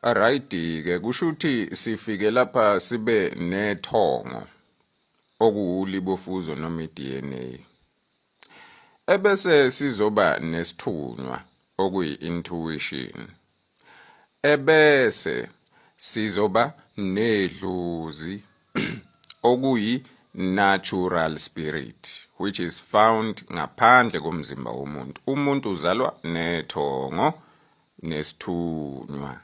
Arayidi ke kusho ukuthi sifike lapha sibe nethongo okuwulibofuzo noma iDNA. Ebese sizoba nesithunywa okuyi-intuition. Ebese sizoba nedlozi okuyi natural spirit which is found ngaphandle komzimba womuntu. Umuntu uzalwa nethongo nesithunywa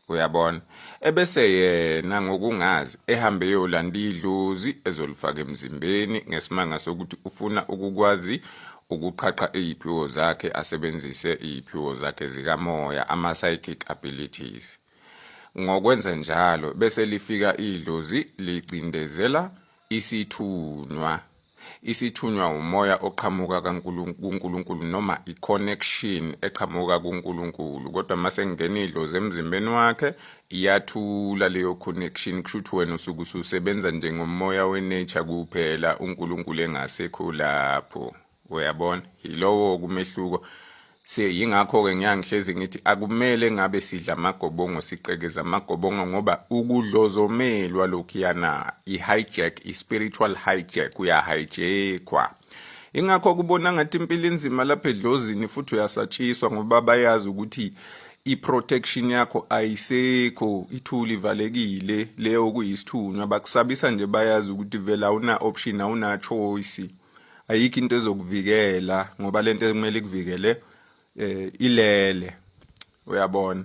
uyabona ebese yena ngokungazi ehambe yolanda idlozi ezolifaka emzimbeni ngesimanga sokuthi ufuna ukukwazi ukuqhaqha iziphiwo zakhe asebenzise iziphiwo zakhe zikamoya ama psychic abilities ngokwenza njalo bese lifika idlozi licindezela isithunwa isithunywa umoya oqhamuka kuNkulunkulu noma i-connection eqhamuka kuNkulunkulu kodwa uma sengingena idlozi emzimbeni wakhe iyathula leyo connection kusho ukuthi wena usuke ususebenza njengomoya wenature kuphela uNkulunkulu engasekho lapho uyabona yilowo kumehluko se yingakho-ke ngiyangihlezi ngithi akumele ngabe sidla amagobongo siqekeza amagobongo ngoba ukudlozomelwa lokhuyana i-hijack i-spiritual hijack uyahijackwa ingakho kubona ngathi impilo inzima lapha edlozini futhi uyasatshiswa ngoba bayazi ukuthi i-protection yakho ayisekho ithuli ivalekile leyo kuyisithunywa bakusabisa nje bayazi ukuthi vele awuna-option awuna-choice ayikho into ezokuvikela ngoba lento ekumele ikuvikele eh ilele uyabona